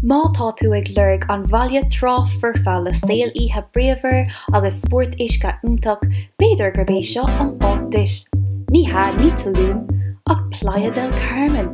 Má tá tú ag lorg an bhaile trá foirfe le saol oíche bríomhar agus spórt uisce iontach, b'fhéidir gurb é seo an áit duit. Ní hea, ní Tulum, ach Playa del Carmen!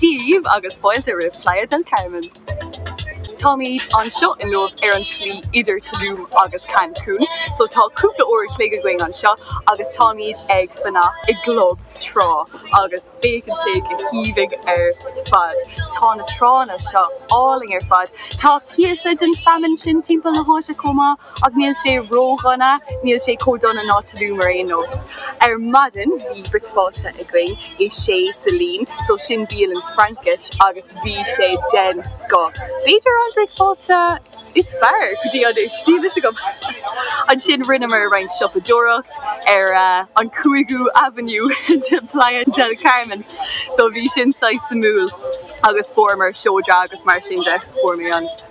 Dia dhaoibh agus fáilte roimh Playa del Carmen! Táimid anseo inniu ar an tslí idir Tulum agus Cancun so tá cúpla uair a chloig againn anseo agus táimid ag fanacht i gclub trá agus féachann sé go haoibhinn ar fad. Tá na tránna seo álainn ar fad. Tá píosa den feamainn sin timpeall na háite chomh maith. Ach níl sé ródhona, níl sé chomh dona ná Tulum ar aon nós. Ar maidin bhí bricfeasta againn i Chez Céline, so sin bialann Fraincise agus bhí sé den scoth. B'fhéidir an bricfeasta is fearr go dtí anois, níl a fhios agam. Ansin rinneamar roinnt siopadóireacht ar an 5ú Avenue de Playa del Carmen, so bhí sin saghas suimiúil agus fuaireamar seodra agus mar sin de. Fuair mé an.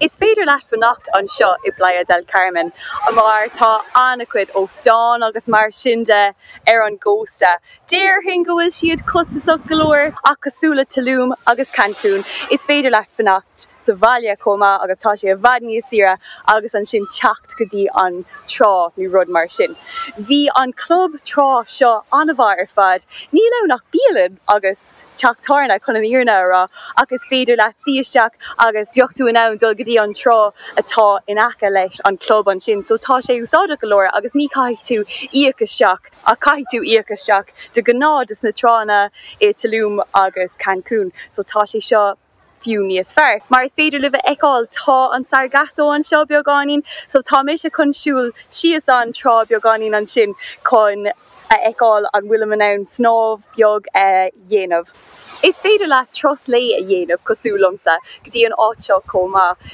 Is féidir leat fanacht anseo i bPlaya del Carmen mar tá an-chuid óstán agus mar sin de ar an gcósta. Déarfainn go bhfuil siad costasach go leor ach cosúil le Tulum agus Cancun, is féidir leat fanacht sa bhaile chomh maith agus tá sé i bhfad níos saoire agus ansin teacht go dtí an trá nó rud mar sin. Bhí an club trá seo an-mhaith ar fad, níl ann ach bialann agus. teach tábhairne, chun an fhírinne a rá, ach is féidir leat suí isteach agus bheadh tú in ann dul go dtí an trá atá in aice leis an gclub ansin so tá sé úsáideach go leor agus ní chaithfidh tú íoc isteach agus caithfidh tú íoc isteach de ghnáth dos na tránna i Tulum agus Cancun so tá sé seo. fiú níos fearr. Mar is féidir libh a fheiceáil tá an Sargasso anseo beagáinín so tá mise chun siúl síos an trá beagáinín ansin chun a fheiceáil an bhfuilim in ann snámh beag a dhéanamh. Is féidir leat turas lae a dhéanamh cosúil liomsa go dtí an áit seo chomh maith.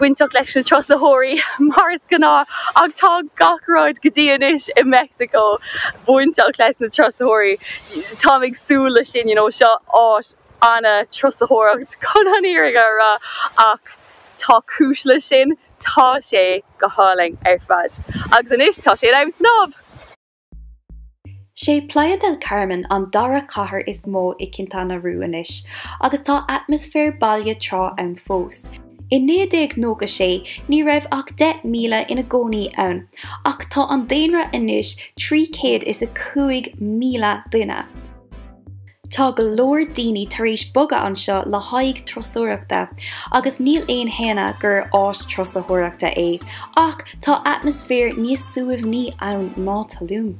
bainteach leis na turasóirí mar is gnáth ach tá gach rud go dtí anois i Meicsiceo bainteach leis na turasóirí táim ag súil leis sin you know seo áit ana-thurasóireacht chun an fhírinne a rá ach tá cúis leis sin tá sé go hálainn ar fad agus anois tá sé in am snámh! Sé Playa del Carmen an dara cathair is mó i Quintana Roo anois, agus tá atmaisféar baile trá ann fós. I 1996 ní raibh ach 10,000 ina gcónaí ann, ach tá an daonra anois 305,000 duine. Tá go leor daoine tar éis bogadh anseo le haghaidh turasóireachta agus níl aon shéanadh gur áit turasóireachta é ach tá atmaisféar níos suaimhní ann ná Tulum.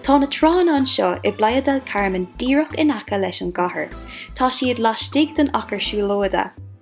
Tá na tránna anseo i bPlaya del Carmen díreach in aice leis an gcathair. Tá siad laistigh den achar siúlóide.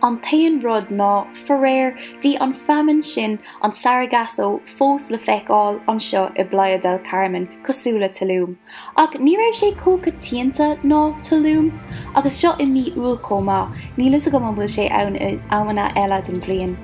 An t-aon rud ná, faraor, bhí an feamainn sin, an Sargasso, fós le feiceáil anseo i bPlaya del Carmen, cosúil le Tulum. Ach ní raibh sé chomh coitianta le Tulum. Agus seo i mí Iúil chomh maith, níl fhios agam an bhfuil sé ann in amanna eile den bhliain.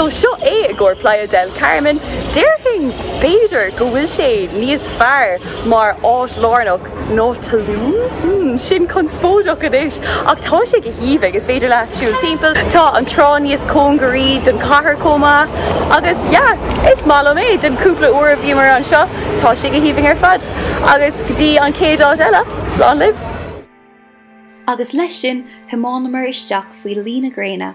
So seo é i gcomhair Playa del Carmen. Déarfainn b'fhéidir go bhfuil sé níos fearr mar áit lárnach ná Tulum? Hm, sin conspóideach anois ach tá sé go haoibhinn, is féidir leat siúl timpeall. Tá an trá níos cóngaraí don chathair chomh maith agus yeah, is maith liom é. Den cúpla uair a bhíomar anseo tá sé go haoibhinn ar fad. Agus go dtí an chéad áit eile, slán libh! Agus leis sin, thiománamar isteach faoi luí na gréine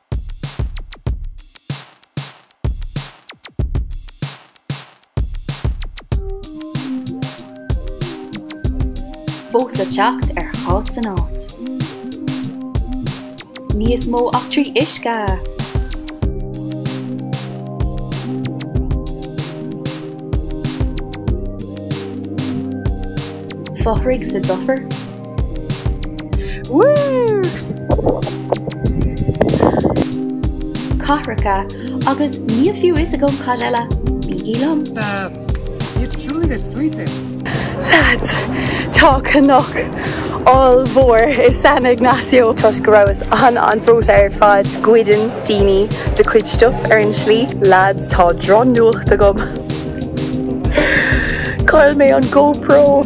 fós le teacht ar Cá Háit. Níos mó eachtraí uisce! Fothraigh sa dufair. cathracha agus níl fiú fhios agam cad eile, bígí liom. Lads! Tá cnoc ollmhór i San Ignacio. Toisc go rabhas an-an-bhreoite ar fad, goideann daoine do chuid stuff ar an slí. Lads, tá drochnuacht agam. Chaill mé an GoPro!